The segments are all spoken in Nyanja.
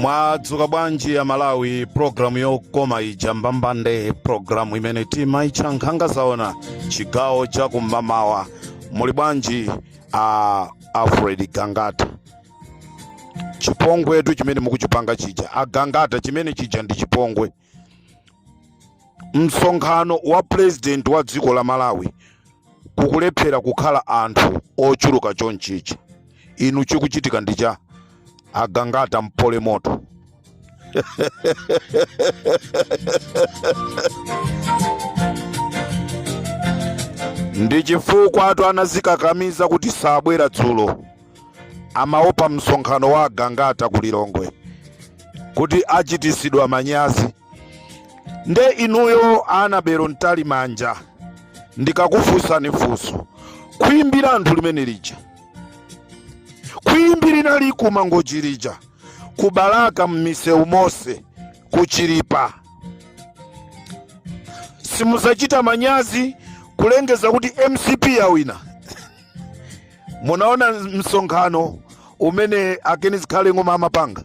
mwadzuka bwanji a malawi programu yokoma ija mbambande programu imene timaitcha nkhanga zaona chigawo cha kum'mamawa muli bwanji a alfred gangata chipongwetu chimene mukuchipanga chija agangata chimene chija ndi chipongwe msonkhano wa pulezidenti wa dziko la malawi kukulephera kukhala anthu ochuluka chonchichi inu chikuchitika ndi cha agangata mpole moto ndi chifukwatu anazikakamiza kuti sabwera dzulo amaopa msonkhano wa agangata ku Lilongwe kuti achitisidwa manyazi. Nde inuyo Anabelo Mtalimanja, ndikakufunsani funso, khwimbi la anthu limene lija, khwimbi linali ku Mangochi lija, ku Balaka m'misewu monse, ku Chilipa, simudzachita manyazi kulengeza kuti mcp yawina munaona msonkhano umene a ken zikhale ng'oma amapanga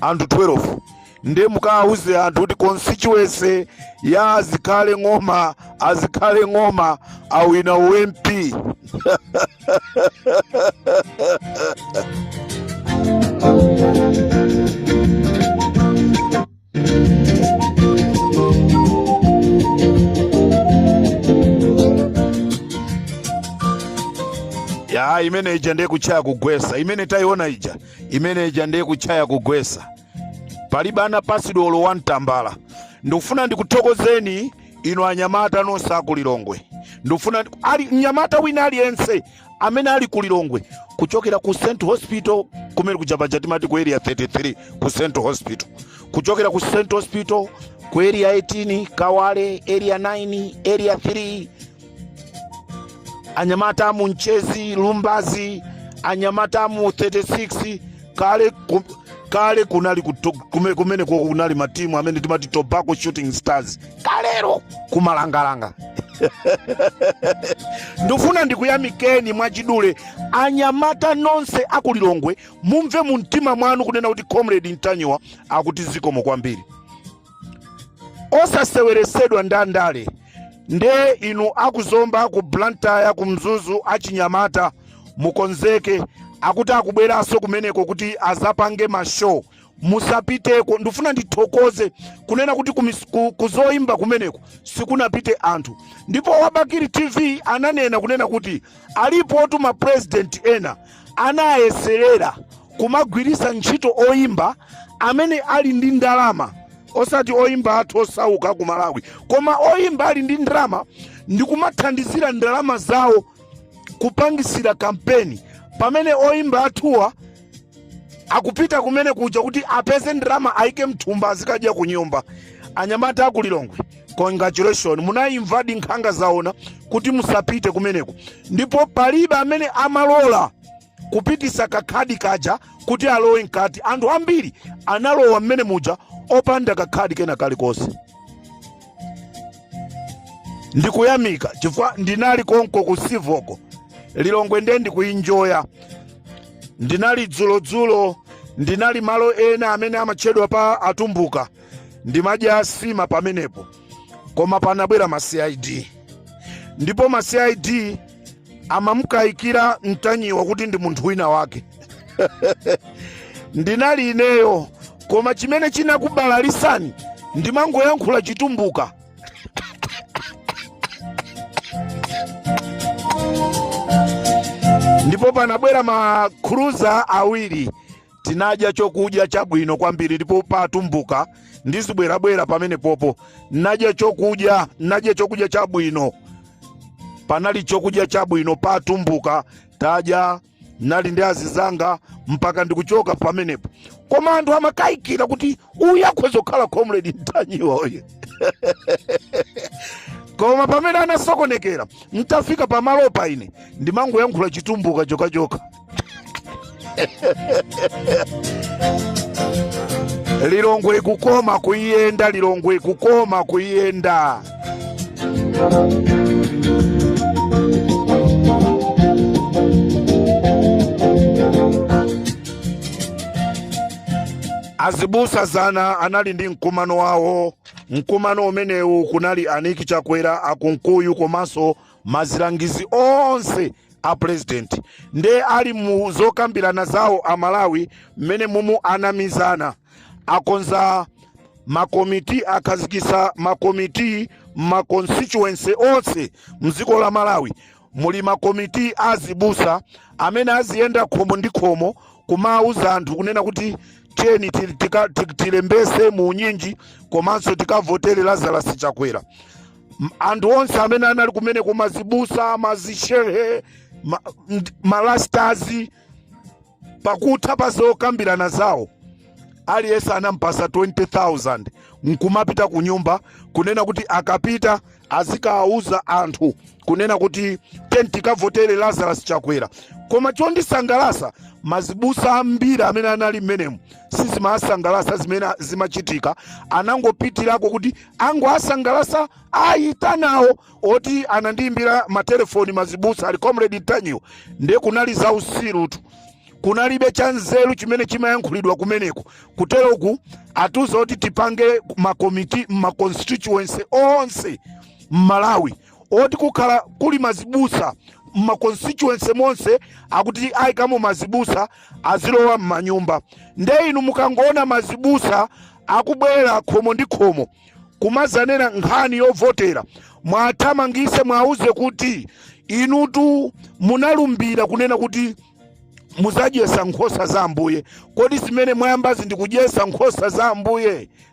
anthu 12 ndiye mukawauze anthu kuti constituency ya azikhale ng'oma azikhale ng'oma awina u mp ya imene ija ndiye kutchaya kugwesa imene tayiona ija imene ija ndiye kutchaya kugwesa palibe anapasidwa olo wani tambala ndikufuna ndikuthokozeni inu anyamata nonse akulilongwe ndikufuna ali mnyamata wina aliyense amene ali ku lilongwe kuchokera ku st hospital kumene kuja paja timati ku area 33 ku st hospital kuchokera ku st hospital ku area 18 kawale area 9 area 3 anyamata amu mchezi lumbazi anyamata amu 36 kale ku- kumene kunali matimu amene timati tobacco shooting stars kalero kumalangalanga ndifuna ndikuyamikeni mwachidule anyamata nonse akulilongwe mumve mu mtima mwanu kunena kuti comrade ntanyiwa akuti zikomo kwambiri osaseweresedwa ndandale nde inu akuzomba ku blantyre ku mzuzu achinyamata mukonzeke akuti akubweranso kumeneko kuti azapange mashow musapiteko ndifuna ndithokoze kunena kuti kumis- ku- kuzoimba kumeneko sikunapite anthu ndipo wabakiri tv ananena kunena kuti alipo tuma president ena anayeserera kumagwiritsa ntchito oimba amene ali ndi ndalama osati oimba athu osauka ku malawi koma oimba ali ndi ndalama ndi kumathandizira ndalama zawo kupangisira kampeni pamene oimba athuwa akupita kumene kuja kuti apeze ndalama aike mthumba azikadya ku nyumba anyamata aku lilongwe congratulations munayimvadi nkhanga zaona kuti musapite kumeneko ndipo palibe amene amalola kupitisa kakhadi kaja kuti alowe mkati anthu ambiri analowa mmene muja opanda kakhadi kena kalikonse ndikuyamika chifukwa ndinali konko ku sivo ku lilongwe nde ndikuinjoya ndinali dzulo dzulo ndinali malo ena amene amatchedwa pa atumbuka ndimadya asima pamenepo koma panabwera ma cid ndipo ma cid amamukayikira mtanyiwa kuti ndi munthu wina wake ndinali ineyo koma chimene chinakubalalisani ndimangoyankhula chitumbuka ndipo panabwera ma cruiser awiri tinadya chokudya chabwino kwambiri ndipo pa atumbuka ndizibwerabwera pamenepopo nadya chokudya nadya chokudya chabwino panali chokudya chabwino pa atumbuka tadya nali ndi azizanga mpaka ndikuchoka pamenepo koma anthu amakayikira kuti uyu akhoza kukhala comrade mtanyiwa uyu koma pamene anasokonekera mtafika pamalopa ine ndimangoyankhula chitumbuka chokhachokha lilongwe ikukoma kuiyenda lilongwe ikukoma kuiyenda azibusa zana anali ndi mkumano wawo mkumano umenewu kunali a nick chakwera a kunkuyu komanso ma azilangizi onse a president nde ali mu zokambirana zawo a Malawi mmene mumu anamizana akonza makomiti akhazikisa makomiti mma constituency onse mdziko la Malawi muli makomiti azibusa amene aziyenda khomo ndi khomo kumauza anthu kunena kuti tiyeni tilembese mu unyinji komanso tikavotere Lazarus Chakwera anthu onse amene anali kumeneku mazibusa mazishehe ma, malastazi pakutha pa zokambirana zawo aliyense anampasa 20000 nkumapita ku nyumba kunena kuti akapita azikawauza anthu kunena kuti tikavotere lazarus chakwera koma chondisangalasa mazibusa ambiri amene anali mmenemu sizimasangalasa zimene zimachitika anangopitirako kuti angowasangalasa ayitanawo oti anandiyimbira matelefoni mazibusa ali comrade ntanyiwa nde kunali za usirutu kunalibe cha nzeru chimene chimayankhulidwa kumeneko kuteroku atiuza kuti tipange makomiti mmaconstituency onse mmalawi oti kukhala kuli mazibusa mma constituency monse akuti aikamo mazibusa azilowa mmanyumba nde inu mukangoona mazibusa akubwera khomo ndi khomo kumazanena nkhani yovotera mwathamangise mwauze kuti inutu munalumbira kunena kuti muzadyesa nkhosa za ambuye kodi zimene mwayambazi ndikudyesa nkhosa za ambuye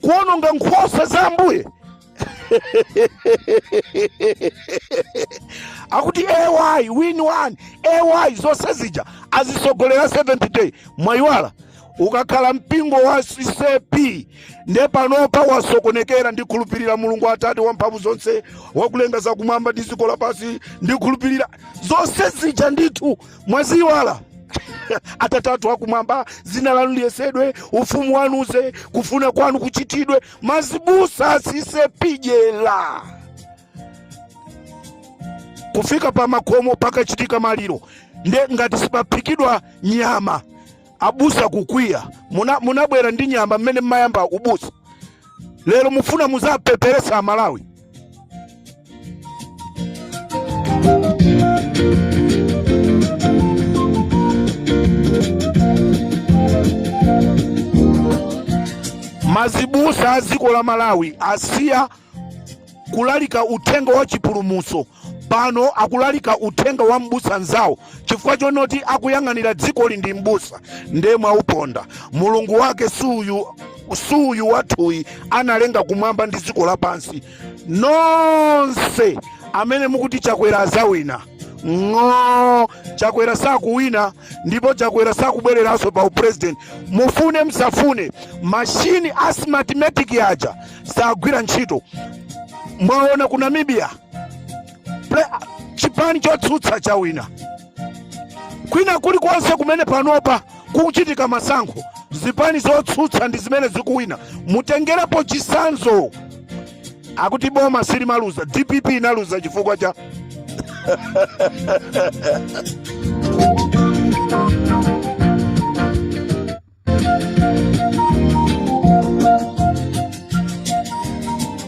kuononga nkhosa za ambuye akuti ay win one ay zonse zija azisogolera seventh day mwayiwala ukakhala mpingo wa ccap nde panopa wasokonekera ndikhulupirira mulungu atate wamphamvu zonse wakulenga zakumwamba ndi dziko lapansi ndikhulupirira zonse zija ndithu mwaziwala atate athu akumwamba dzina lanu liyeretsedwe ufumu wanu uze kufuna kwanu kuchitidwe mazibusa a ccap pijela kufika pa makomo pakachitika maliro nde ngati sipaphikidwa nyama abusa kukwiya muna- munabwera ndi nyama mmene mmayamba ubusa lero mufuna muzapeperesa malawi mazibusa a dziko la malawi asiya kulalika uthenga wa chipulumuso pano akulalika uthenga wa m'busa nzawo chifukwa chonoti akuyang'anira dzikoli ndi m'busa nde mwauponda mulungu wake suyu wathuyi analenga kumwamba ndi dziko lapansi nonse amene mukuti chakwera azawina ng'o chakwera sakuwina ndipo chakwera sakubwereranso pa upresident mufune msafune mashini a smartmatic aja sagwira ntchito mwaona ku namibia chipani chotsutsa chawina kwina kulikonse kumene panopa kukuchitika masankho zipani zotsutsa ndi zimene zikuwina mutengerepo chisanzo akuti boma silimaluza dpp inaluza chifukwa cha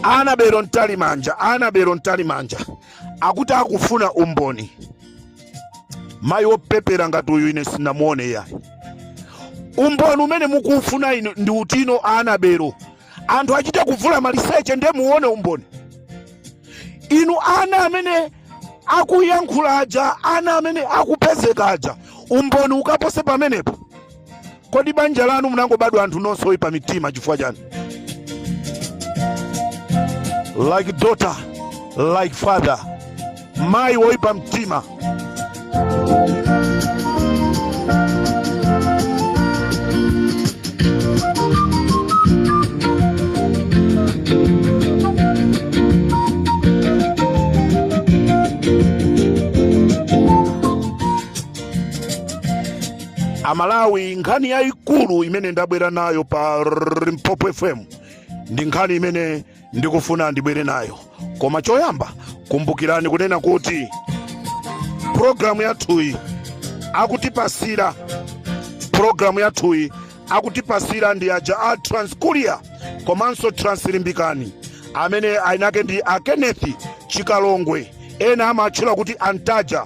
anabelo mtalimanja anabelo mtalimanja akuti akufuna umboni mayi wopepera ngati uyu ine sinamuone iyayi umboni umene mukufuna inu ndi utino anabelo anthu achite kuvula maliseche ndiye muone umboni inu ana amene akuyankhula aja ana amene akupezeka aja umboni ukapose pamenepo Kodi banja lanu munangobadwa anthu nonse oyipa mitima chifukwa chani? Like daughter, like father, mayi woyipa mtima. amalawi nkhani yayikulu imene ndabwera nayo pa limpopo fm ndi nkhani imene ndikufuna ndibwere nayo koma choyamba kumbukirani kunena kuti pulogalamu yathuyi akutipasira ndi aja a transkuria komanso translimbikani amene ayinake ndi a kenneth chikalongwe ena amatchula kuti antaja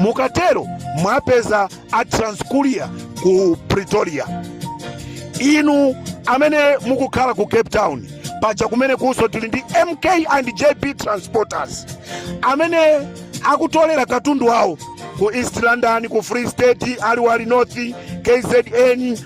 mukatero mwapeza a transcuria ku pretoria inu amene mukukhala ku cape town paja kumene kunso tili ndi mk and jp transporters amene akutolera katundu wawo ku east london ku free state aliwal north kzn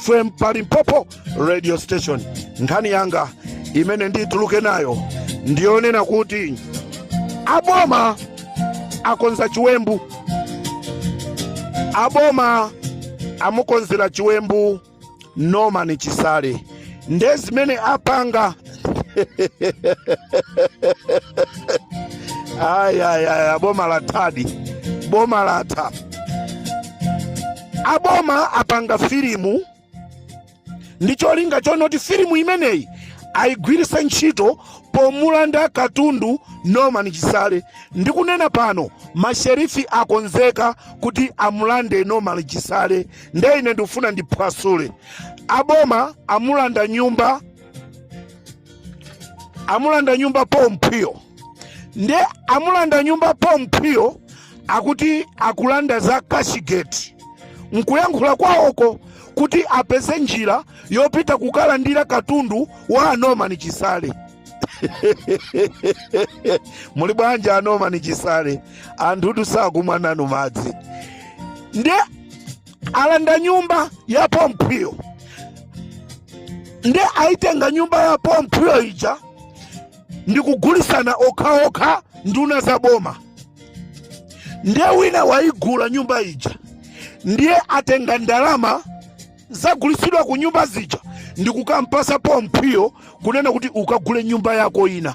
fm pa limpopo radio station nkhani yanga imene ndituluke nayo ndiyonena kuti aboma akonza chiwembu aboma amukonzera chiwembu norman chisale nde zimene apanga ayayaya boma lathadi boma latha aboma apanga filimu ndi cholinga chonoti filimu imeneyi ayigwiritse ntchito pomulanda katundu norman chisale ndikunena pano masherifi akonzeka kuti amulande norman chisale nde ine ndikufuna ndiphwasule aboma amulanda nyumba amulanda nyumba paul mphwiyo nde amulanda nyumba paul mphwiyo akuti akulanda za cashgate nkuyankhula kwawoko kuti apeze njira yopita kukalandira katundu wa a norman chisale muli bwanji a norman chisale anthutu sakumwa nanu madzi nde alanda nyumba ya paul mphwiyo nde aitenga nyumba ya paul mphwiyo ija ndikugulisana okhaokha nduna za boma ndiye wina waigula nyumba ija ndiye atenga ndalama zagulisidwa ku nyumba zija ndikukampasa paul mphwiyo kunena kuti ukagule nyumba yako ina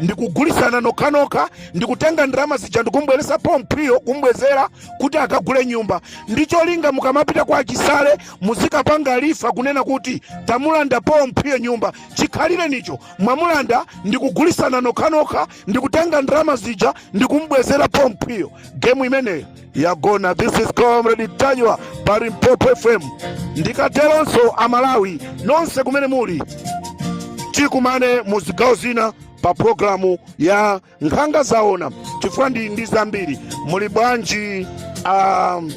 ndikugulitsana nokhanokha ndikutenga ndalama zija ndikumbweresa paul mphwiyo kumbwezera kuti akagule nyumba ndi cholinga mukamapita kwa a chisale muzikapanga refer kunena kuti tamulanda paul mphwiyo nyumba chikhalirenicho mwamulanda ndikugulitsana nokhanokha ndikutenga ndalama zija ndikumbwezera paul mphwiyo gemu imeneyo yagona this is comrade ntanyiwa pa limpopo fm ndikateronso amalawi nonse kumene muli tikumane mu zigawo zina pa programu ya nkhanga zaona chifukwa ndi ndi zambiri muli bwanji um,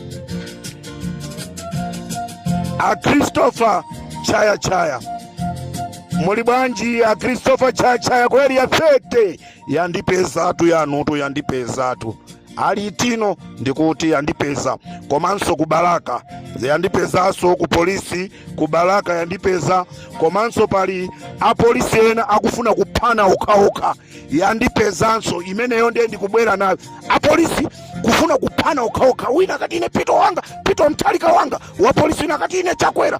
a christopher chaya chaya muli bwanji a christopher chaya chaya kweli ya 30 yandipezatu yanutu yandipezatu ali itino ndikuti yandipeza komanso ku balaka yandipezanso ku polisi ku balaka yandipeza komanso pali apolisi ena akufuna kuphana okhaokha yandipezanso imeneyo ndiye ndikubwera nayo apolisi kufuna kuphana okhaokha wina akati ine peter wanga peter mutharika wanga wapolisi wina akati ine chakwera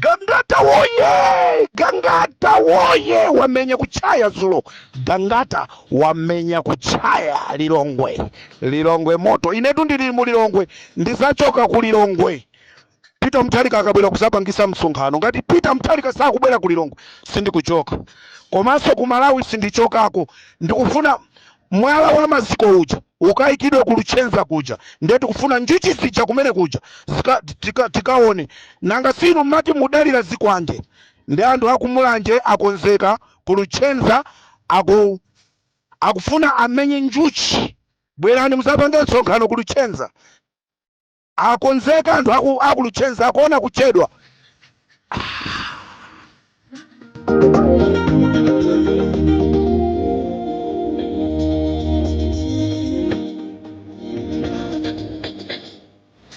Gangata woyee! Gangata woyee! Wamenya kutchaya dzulo. Gangata wamenya kutchaya Lilongwe. Lilongwe moto. Inetu ndili mu Lilongwe. Ndizachoka ku Lilongwe. Peter Mutharika akabwera kuzapangisa msonkhano. Ngati Peter Mutharika sakubwera ku Lilongwe, sindikuchoka. Komanso ku Malawi sindichokako. Ndikufuna Mwala wa maziko uja ukayikidwe ku Luchenza kuja ndiye tikufuna njuchi zija kumene kuja zika, tika, tikaone. Nanga si inu mmati mudalira zikwanje? Ndiye anthu a ku Mulanje akonzeka, ku Luchenza aku, akufuna amenye njuchi. Bwerani mudzapange msonkhano ku Luchenza. Akonzeka anthu aku Luchenza akuona kuchedwa ah.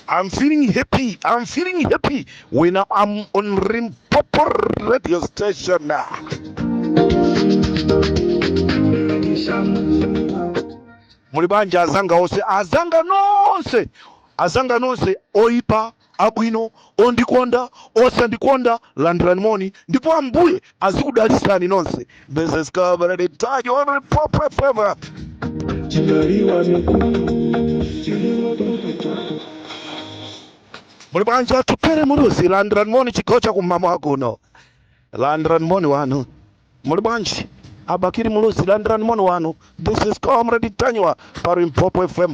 I'm feeling happy. I'm feeling happy when I'm on Limpopo radio station now. Muli bwanji azanga onse, azanga nonse, azanga nonse, oipa, abwino, ondikonda, osandikonda, landirani moni, ndipo Ambuye azikudalitsani nonse. This is Comrade Tanywa on Limpopo FM. Muli bwanji Atupele Muluzi, landirani moni chigawo cha kum'mawa kuno, landirani moni wanu. muli bwanji a Bakili Muluzi landirani moni wanu this is comrade tanywa pa limpopo fm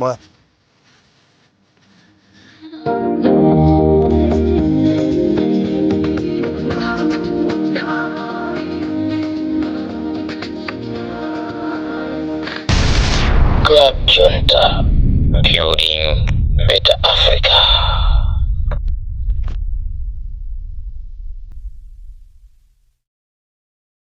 Club Junta, building better Africa.